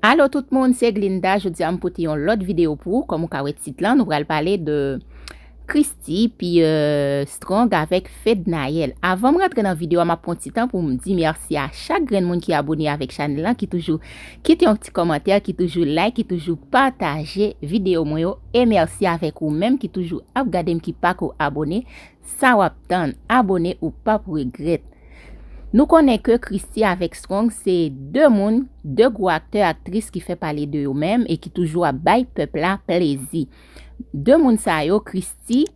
Alo tout moun se Glinda jodi a m pote yon lòt video pou ou kòm ou ka wè tit lan nou pral pale de Christy pi euh, Strong avèk Fednaelle avan m rantre nan video a m ap pran ti tan pou m di mèsi a chak grenn moun ki abone avèk chanèl lan ki toujou kite yon ti kòmantè ki toujou like ki toujou pataje video mwen yo e mèsi avèk ou menm ki toujou ap gade m ki pako abone Sa wap tann, abone ou pap regrèt. Nou konnen ke Christie avèk Strong se 2 moun, 2 gwo aktè aktris ki fè pale de yo menm e ki toujou ap bay pèp la plezi. 2 moun sa yo Christie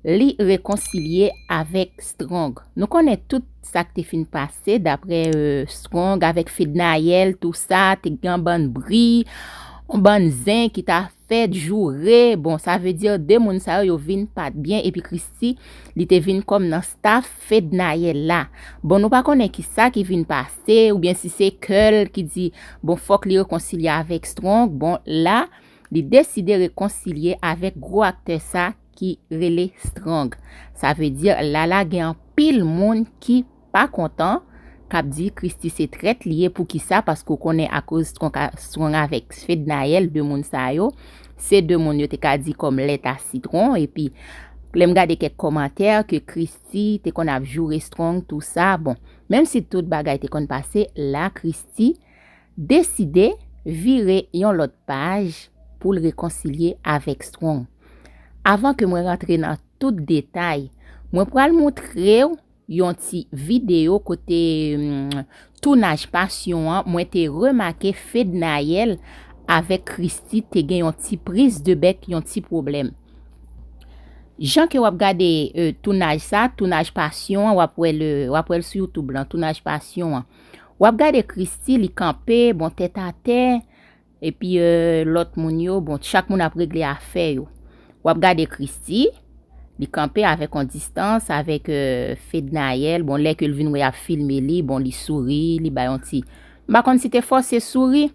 li rekonsilye avèk Strong. Nou konnen tout sak te fin pase daprè Strong avèk Fednaelle tou sa, te gen yon bann bri, yon bann zen ki ta. Fed joure bon sa vle dire 2 moun sa yo yo vin pat byen epi christi li te vin kòm nan staff fednaelle la bon nou pa konnen kisa ki vin pase oubyen si se kèl ki di bon fòk li rekonsilye avèk strong bon la li deside rekonsilye avèk gro aktè sa ki rele strong sa vle dire lala gen anpil moun ki pa kontan kap di Christie se trèt li ye poukisa paske ou konnen akoz strong avèk fednaelle 2 moun sa yo se 2 moun yo te ka di kòm lèt a sitron epi lèm gade kèk kòmantè ke Christie te konn ap joure strong tou sa bon menm si tout bagay te konn pase la Christie deside vire yon lòt paj poul rekonsilye avèk strong avan ke mwen rantre nan tout detay mwen pral moutrew yon ti video kote tounaj pasyon an mwen te remake Fednaelle avèk Christie te gen yon ti prise de bec yon ti pwoblèm. Jan ke wap gade tounaj sa, tounaj pasyon an wap wè le wap wèl sou youtube lan tounaj pasyon an wap gade Christie li kanpe bon tèt atè Epi lòt moun yo, bon, chak moun ap regle afè yo. W ap gade Christy, li kanpe avèk yon distans avèk Fednaelle, bon lè ke l vin wè y ap filme li, bon li souri, li bay yon ti, m pa konn si te fòse souri,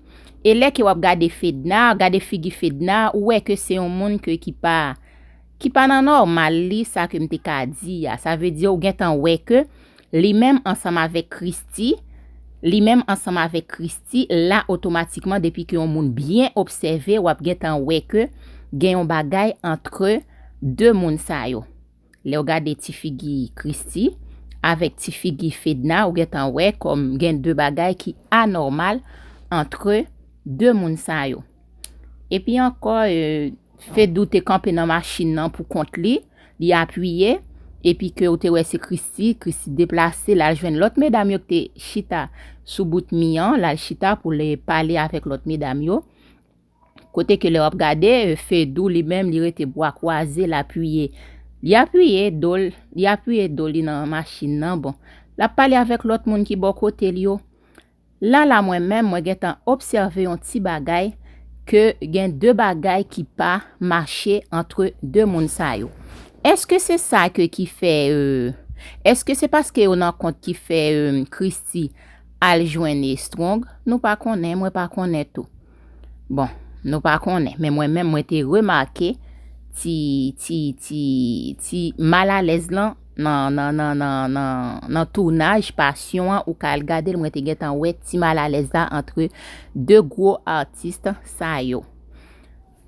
e lè ke w ap gade Fedna, gade figi Fedna, ou wè ke se yon moun ke ki pa, ki pa nan nòmal li, sa ke m te ka di a, sa vle di ou gentan wè ke Li menm ansanm avèk Kristi, Li menm ansanm avèk Kristi, la otomatikman depi ke yon moun byen obsève wap gentan wè ke gen yon bagay antre 2 moun sa yo. Lèw gade ti figi Kristi avèk ti figi Fedna ou gentan wè kòm gen 2 bagay ki anòmal antre 2 moun sa yo. Epi ankò Fedou te kanpe nan machin nan pou kont li. li apiye, epi ke ou te wè se Christy, Christy deplase lal jwenn lòt medam yo ki te chita sou bout mi an, lal chita pou li pale avèk lòt medam yo, kote ke lè wap gade Fedou li menm li rete bwa kwaze l apiye, li apiye do l, li apiye do li nan machin nan, bon, lap pale avèk lòt moun ki bò kote l yo, La la mwen menm mwen gentan obsève yon ti bagay ke gen de bagay ki pa mache antre de moun sa yo eske se sa ke ki fè euh eske se paske yo nan kont ki fè euh Christie al jwenn Strong nou pa konnen mwen pa konnen tou. Bon, nou pa konnen, men mwen menm mwen te remake ti, ti, ti, ti mal alèz lan nan, nan, nan, nan, nan, nan tounaj pasyon an ou ka al gade l mwen te gentan wè ti mal alèz la antre 2 gwo atis sa yo.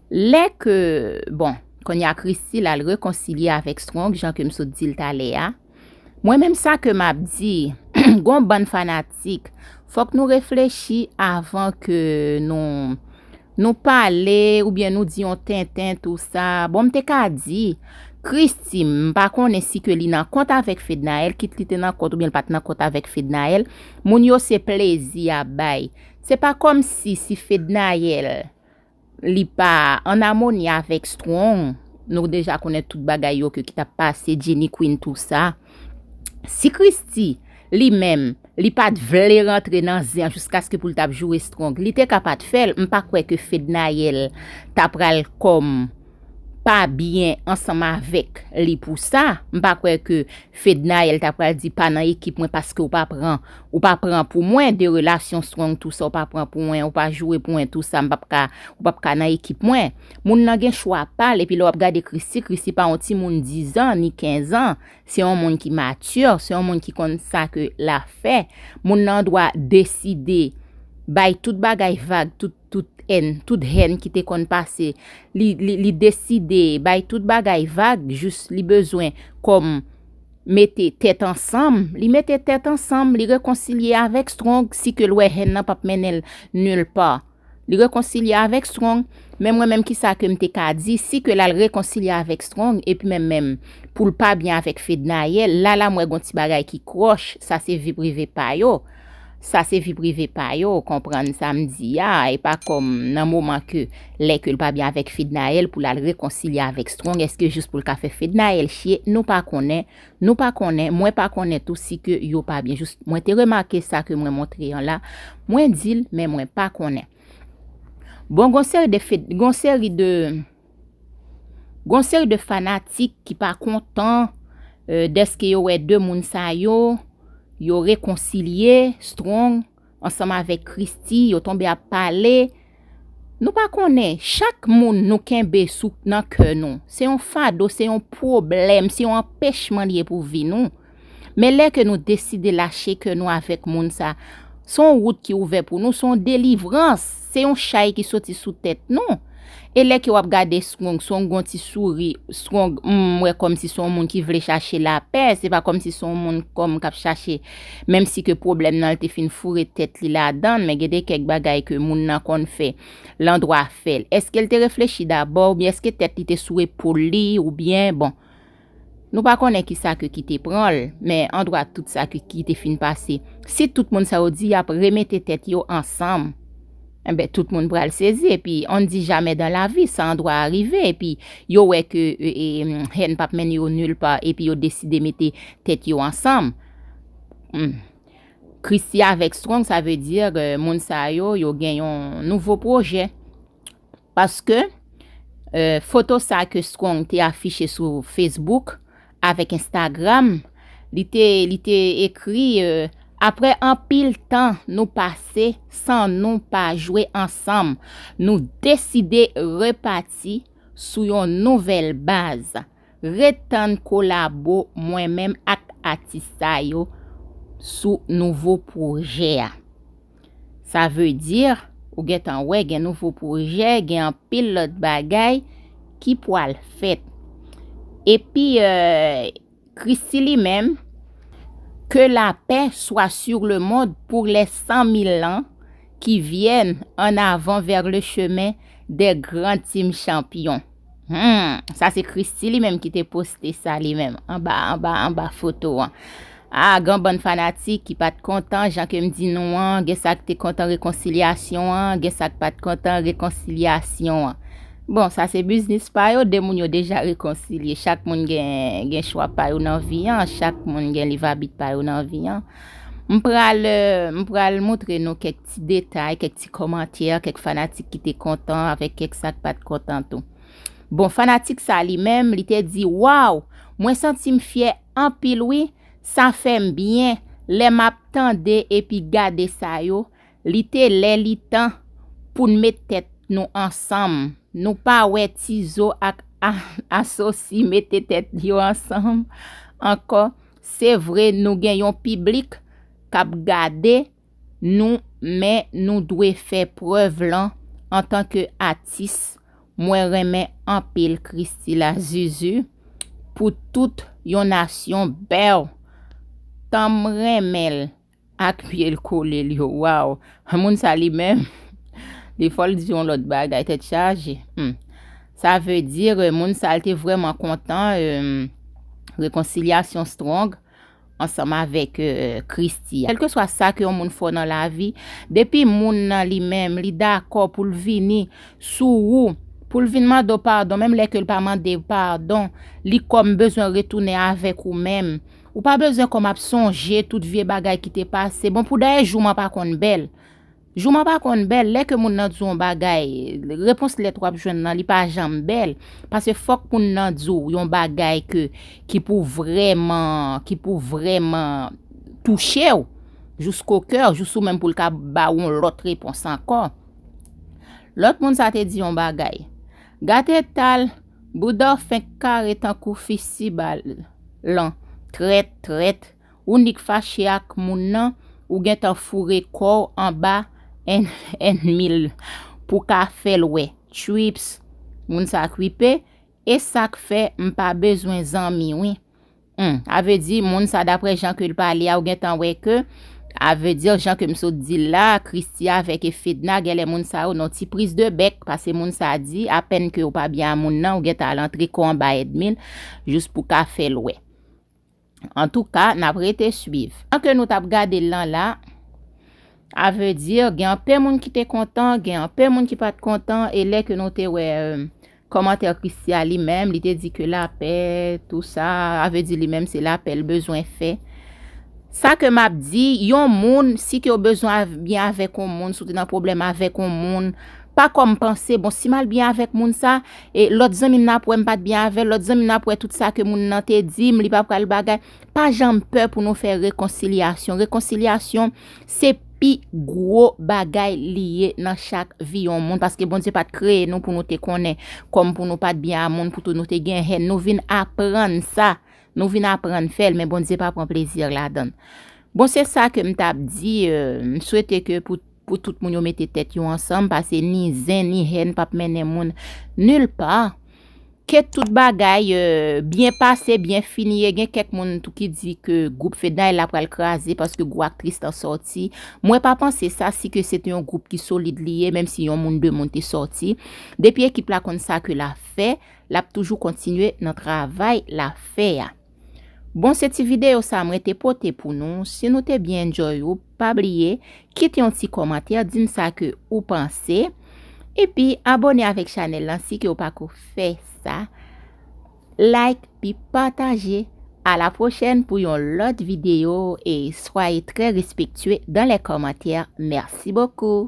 Lè ke, bon, kounye a Christie l al rekonsilye avèk Strong jan ke m sot di l talè a. Mwen menm sa ke map di, gon bann fanatik, fok nou reflechi avan ke nou nou pale ou byen nou di yon tenten tou sa, bon m te ka di Christie m pa konnen si ke li nan kont avek Fednaelle kit li te nan kont ou byen li pat nan kont avek Fednaelle, moun yo se plezi yap bay. Se pa komsi si Fednaelle li pa an amoni avèk strong nou deja konnen tout bagay yo ke ki tap pase Jenny Queen tou sa si Christy li menm li pat vle rantre nan zen an jiskaske poul tap joure strong li te ka pat fèl m pa kwè ke Fednaelle ta pral kòm. pa byen ansanm avèk li pou sa, m pa kwè ke Fednaelle ta pral di pa nan ekip mwen paske ou pa pran ou pa pran pou mwen de relasyon strong tou sa ou pa pran pou mwen ou pa joure pou mwen tou sa m pap ka ou pap ka nan ekip mwen moun nan gen chwa pa l epi lè w ap gade Christie Christie pa yon timoun 10 ans ni 15 ans se yon moun ki mature se yon moun ki konn sa ke la fè moun nan dwa deside bay tout bagay vag tout tout èn, tout hèn ki te konn pase, li, li, li deside bay tout bagay vag jis li bezwen kòm mete tèt ansanm, li mete tèt ansanm, li rekonsilye avèk Strong si ke l wè hèn nan pap mennen l nul part. Li rekonsilye avèk Strong, men mwen menm kisa ke m te ka di si ke l al rekonsilye avèk Strong epi menm menm pou l pa byen avèk Fednaelle, la la m wè gon ti bagay ki kròch, sa se vi prive pa yo. Sa se vi prive pa yo, konprann sa m di a, e pa kòm nan moman ke lè ke l pa byen avèk Fednaelle pou l al rekonsilye avèk Strong eske jis pou l ka fè Fednaelle chye, nou pa konnen, nou pa konnen, mwen pa konnen tou si ke yo pa byen jis mwen te remake sa ke mwen montre an la, mwen di l men mwen pa konnen. Bon gon seri de fed, gon seri de. Gen yon seri de fanatik ki pa kontan dèske yo wè 2 moun sa yo, yo rekonsilye, Strong ansanm avèk Christie, yo tonbe ap pale. Nou pa konnen, chak moun nou kenbe sou nan kè nou, se yon fado, se yon pwoblèm, se yon anpèchman li ye pou vi nou. Men lè ke nou deside lache kè nou avèk moun sa, se yon wout ki ouvè pou nou, se yon delivrans, se yon chay ki soti sou tèt nou. E lè ke wap gade Strong, Strong gon ti souri, Strong, m wè kòm si se yon moun ki vle chache lapè, se pa kòm si se yon moun kòm kap chache, menm si ke pwoblèm nan li te fin foure tèt li ladann, men gen de kèk bagay ke moun nan konn fè, l andwa fèl. Eske l te reflechi dabò, oubyen eske tèt li te sou epol li, oubyen, bon. Nou pa konnen ki sa ke ki te pran l, men andwa tout sa ke ki te fin pase, si tout moun sa yo di y ap remete tèt yo ansanm, enben tout moun pral sezi, epi on ne dit jamais dans la vie, sa andwa rive, epi yo wè ke hèn pap mennen yo nul part, epi yo deside mete tèt yo ansanm. Humm. Christie avèk Strong sa veut dire moun sa yo, yo gen yon nouvo pwojè. Paske, foto sa ke Strong te afiche sou Facebook avèk Instagram, li te, li te ekri, Aprè anpil tan nou pase san nou pa jwe ansanm, nou deside repati sou yon nouvèl baz. Ret tann kolabo mwen menm ak atis sa yo sou nouvo pwojè a. Sa veu dir, ou gentan wè gen nouvo pwojè, gen anpil lòt bagay ki pwal fèt. Epi Kristi li menm, Ke lapè swa sur le mond pour les san mil lan ki vyèn, an avan vèr le chemen dè gran tim chanpyon. Humm sa se Christie li menm ki te poste sa li menm anba anba anba foto an. Ah gan bann fanatik ki pat kontan jan kem di nou an gen sak te kontan rekonsilyasyon an gen sak pat kontan rekonsilyasyon an. Bon sa se biznis pa yo 2 moun yo deja rekonsilye chak moun gen gen chwa pa yo nan vi an chak moun gen liv abit pa yo nan vi an. M pral euh m pral moutre nou kèk ti detay, kèk ti kòmantè, kèk fanatik ki te kontan avèk kèk sa k pa t kontan tou. Bon, fanatik sa li menm, li te di, Waww! Mwen santi m fyè anpil wi, sa fè m byen lè m ap tande epi gade sa yo, li te lè li tan pou n met tèt nou ansanm, nou pa wè Tizo ak Asosi mete tèt yo ansanm ankò, se vre nou gen yon piblik k ap gade, nou men nou dwe fè prèv lan antanke atis mwen renmen anpil christy la zuzu pou tout yon nasyon bèw tanm renmenl ak pyel kolel yo waw moun sa li menm li fòl di yon lòt bagay tèt chaje humm sa vle dire moun sa te vrèman kontan humm rekonsilyasyon strong. ansanm avèk Kristi a. Kèlkeswa sa ke yon moun fò nan lavi, depi moun nan li menm li dakò pou l vini sou ou, pou l vin mande w padon, menm lè ke l pa mande w padon, li kòm bezwen retounen avèk ou menm. Ou pa bezwen kòm ap sonje tout vye bagay ki te pase. Bon pou dèyè jouman pa konn bèl. Jouman pa konn bèl, lè ke moun nan di w yon bagay, repons lèt wap jwenn lan li pa janm bèl, pase fòk moun nan di w yon bagay ke ki pou vrèman, ki pou vrèman touche w, jous ko kè w, jous ou menm pou l ka ba w yon lòt repons ankò. Lòt moun sa te di yon bagay, Gad eta l, bouda w fenk kare tankou fi siba lan, trèt, trèt. Ou nik fache ak moun nan ou gentan foure kòw anba ènmil pou ka fèl wè tchuipss moun sa kwipe esak fè m pa bezwen zanmi wi humm a vle di moun sa daprè jan ke l pale a ou gentan wè ke a vle di jan ke m sot dil la Christie avèk e Fedna gèlè moun sa yo nan ti priz de bèk pase moun sa di apèn ke ou pa byen a moun nan ou gentan al antre kòw anba ènmil jous pou ka fèl wè. Antouka nap rete swiv. Jan ke nou tap gadel lan la a veut dire gen anpe moun ki te kontan gen anpe moun ki pat kontan e lè ke nou te wè komantè Christian li menm li te di ke lapè tou sa a veut dire li menm se lapè l bezwen fè sa ke map di yon moun si ke w bezwen byen avek yon moun si w te nan pwoblèm avek yon moun pa kom panse bon si mal byen avek moun sa. e lòt zanmi m nan ap wè m pa t byen avè l, lòt zanmi nan ap wè tout sa ke moun nan te di m li pa pral bagay. Pa janm pè pou nou fè rekonsilyasyon. Rekonsilyasyon se pi gwo bagay li ye nan chak vi yon moun paske Bondye pa t kreye nou pou nou te konnen kòm pou nou pa t byen a moun pou tou nou te gen hèn. Nou vin aprann sa, nou vin aprann fè l men Bondye pa pran plezi ladan l. Bon se sa ke m t ap di, m swete ke pou. Pou tout moun yo mete tèt yo ansanm pase ni zen ni hèn pap mennen moun nul part. Ke tout bagay byen pase, byen fini e gen kèk moun tou ki di ke gwoup Fedna e la pral kraze paske gwo aktris lan sòti. Mwen pa panse sa si ke se te yon gwoup ki solid li ye menm si yon moun 2 moun te sòti. Depi ekip la konn sa ke la fè, lap toujou kontinye nan travay la fè a. Bon se ti video sa mwen te pote pou nou si nou te byen enjoy ou pa bliye kite yon ti komantè dim sa ke ou panse epi abone avek chanel lan si ke ou pako fè sa like pi pataje a la prochèn pou yon lot video e swaye trè respektye dan lè komantè merci bokou.